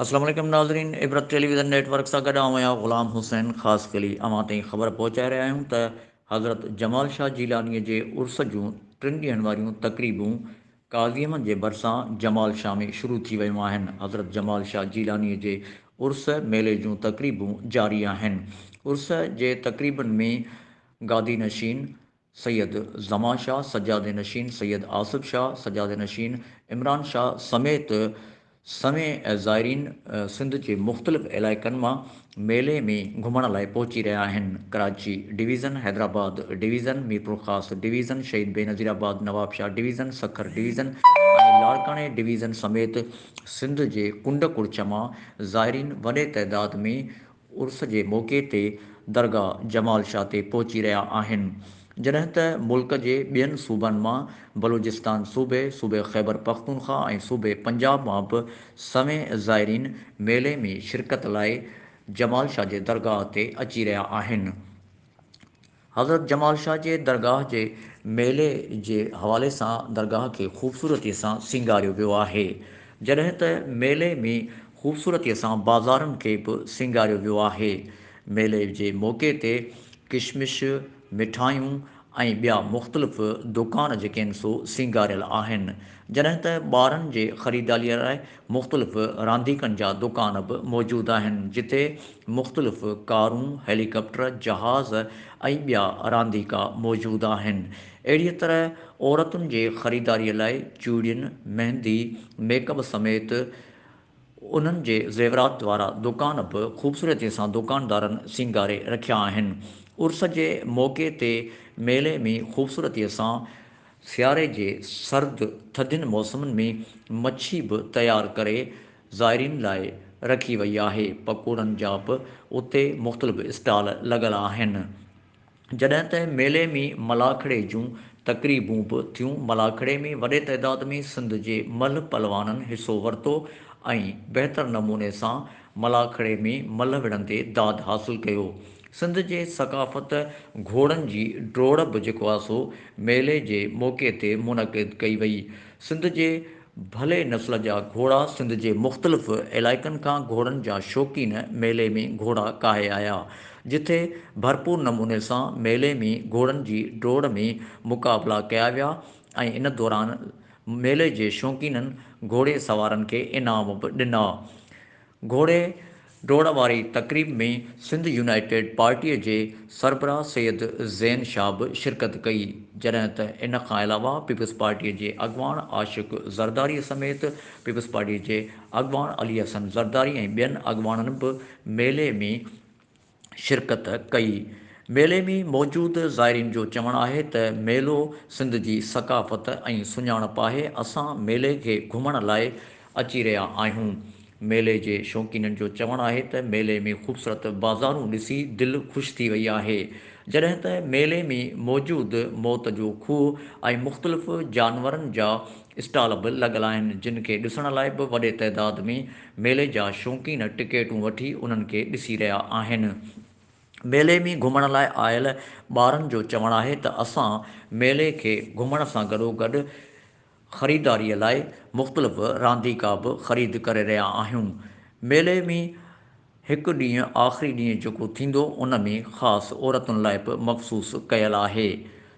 السلام عليڪم ناظرين Ibrat television network سان گڏ آئون آهيان غلام حسين خاص قلي اوهان تائين خبر پهچائي رهيا آهيون ته حضرت جمال شاهه جيلاني جي عرس جون ٽن ڏينهن واريون تقريبون قاضيم جي ڀرسان جمال شاهه ۾ شروع ٿي ويون آهن. حضرت جمال شاهه جيلانيء جي عرس ميلي جون تقريبون جاري آهن. عرس جي تقريبن ۾ گادي نشين سيد زمان شاهه، سجادي نشين سيد آصف شاهه، سجادي نشين عمران شاهه سميت، سوين زائرين سنڌ جي مختلف علائقن مان ميلي ۾ گهمڻ لاء پهچي رهيا آهن، Karachi division, Hyderabad division, Mirpurkhas division, Shaheed Benazir Abad, Nawabshah division, Sukkur division ۽ لاڙڪاڻي ڊويزن سميت سنڌ جي ڪنڊ ڪڙڇ مان زائرين وڏي تعداد ۾ عرس جي موقعي تي درگاهه جمال شاهه تي پهچي رهيا آهن جڏهن ته ملڪ جي ٻين صوبن مان بلوچستان صوبي، صوبي خيبر پختونخوا ۽ صوبي پنجاب مان به سوين زائرين ميلي ۾ شرڪت لاء جمال شاهه جي درگاهه تي اچي رهيا آهن. حضرت جمال شاهه جي درگاهه جي ميلي جي حوالي سان درگاهه کي خوبصورتي سان سينگاريو ويو آهي، جڏهن ته ميلي ۾ خوبصورتي سان بازارن کي به سينگاريو ويو آهي. ميلي جي موقعي تي ڪشمش، مٺايون ۽ ٻيا مختلف دوڪان جيڪي آهن سو سينگاريل آهن، جڏهن ته ٻارن جي خريدالي لاء مختلف رانديڪن جا دڪان به موجود آهن، جتي مختلف ڪارون، هيليڪاپٽر، جهاز ۽ ٻيا رانديڪا موجود آهن. اهڙيء طرح عورتن جي خريداريء لاء چوڙين، مهندي، ميڪ اپ سميت انهن جي زيورات وارا دڪان به خوبصورتيء سان دڪاندارن سينگاري رکيا آهن. عرس جي موقعي تي ميلي ۾ خوبصورتيء سان سياري جي سرد ٿڌين موسمن ۾ مڇي به تيار ڪري زائرين لاء رکي وئي آهي. پڪوڙن جا به اتي مختلف اسٽال لڳل آهن. جڏهن ته ميلي ۾ ملاکڙي جون تقريبون به ٿيون. ملاکڙي ۾ وڏي تعداد ۾ سنڌ جي ملهه پهلوانن حصو ورتو ۽ بهتر نموني سان ملاح کڙي ۾ ملهه وڙهن تي داد حاصل ڪيو. سنڌ جي ثقافت گهوڙن جي ڊوڙ به جيڪو آ سو ميلي جي موقعي تي منعقد ڪئي وئي. سنڌ جي ڀلي نسل جا گهوڙا سنڌ جي مختلف علائقن کان گهوڙن جا شوقين ميلي ۾ گهوڙا ڪاهي آيا. جتي ڀرپور نموني سان ميلي ۾ گهوڙن جي ڊوڙ ۾ مقابلا ڪيا ويا ۽ ان دوران ميلي جي شوقينن گهوڙي سوارن کي انعام به ڏنا. گهوڙي ڊوڙ واري تقريب ۾ سنڌ يونائيٽيڊ پارٽي جي سربراهه سيد زين شاهه به شرڪت ڪئي، جڏهن ته ان کان علاوه پيپلز پارٽي جي اڳواڻ عاشق زرداري سميت پيپلز پارٽي جي اڳواڻ علي حسن زرداري ۽ ٻين اڳواڻن به ميلي ۾ شرڪت ڪئي. ميلي ۾ موجود زائرين جو چوڻ آهي ته ميلو سنڌ جي ثقافت ۽ سڃاڻپ آهي، اسان ميلي کي گهمڻ لاء اچي رهيا آهيون. ميلي جي شوقينن جو چوڻ آهي ته ميلي ۾ خوبصورت بازارون ڏسي دل خوش ٿي وئي آهي، جڏهن ته ميلي ۾ موجود موت جو کوهه ۽ مختلف جانورن جا اسٽال به لڳل آهن، جن کي ڏسڻ لاء به وڏي تعداد ۾ ميلي جا شوقين ٽڪيٽون وٺي انهن کي ڏسي رهيا آهن. ميلي ۾ گهمڻ لاء آيل ٻارن جو چوڻ آهي ته اسان ميلي کي گهمڻ سان گڏوگڏ خريداري لاء مختلف رانديڪا به خريد ڪري رهيا آهيون. ميلي ۾ هڪ ڏينهن آخري ڏينهن جيڪو ٿيندو ان ۾ خاص عورتن لاء به مخصوص ڪيل آهي.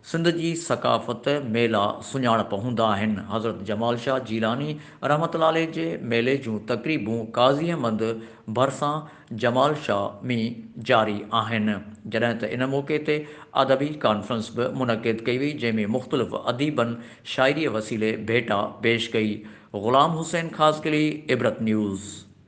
سنڌ جي ثقافت، ميلا، سڃاڻپ هوندا آهن. حضرت جمال شاهه جيلاني رحمة الله عليه جي ميلي جون تقريبون قاضي احمد ڀرسان جمال شاهه ۾ جاري آهن. جڏهن ته ان موقعي تي ادبي ڪانفرنس به منعقد ڪئي وئي جنهن ۾ مختلف اديبن شاعريء وسيلي ڀيٽا پيش ڪئي. غلام حسين خاصخيلي، عبرت نيوز.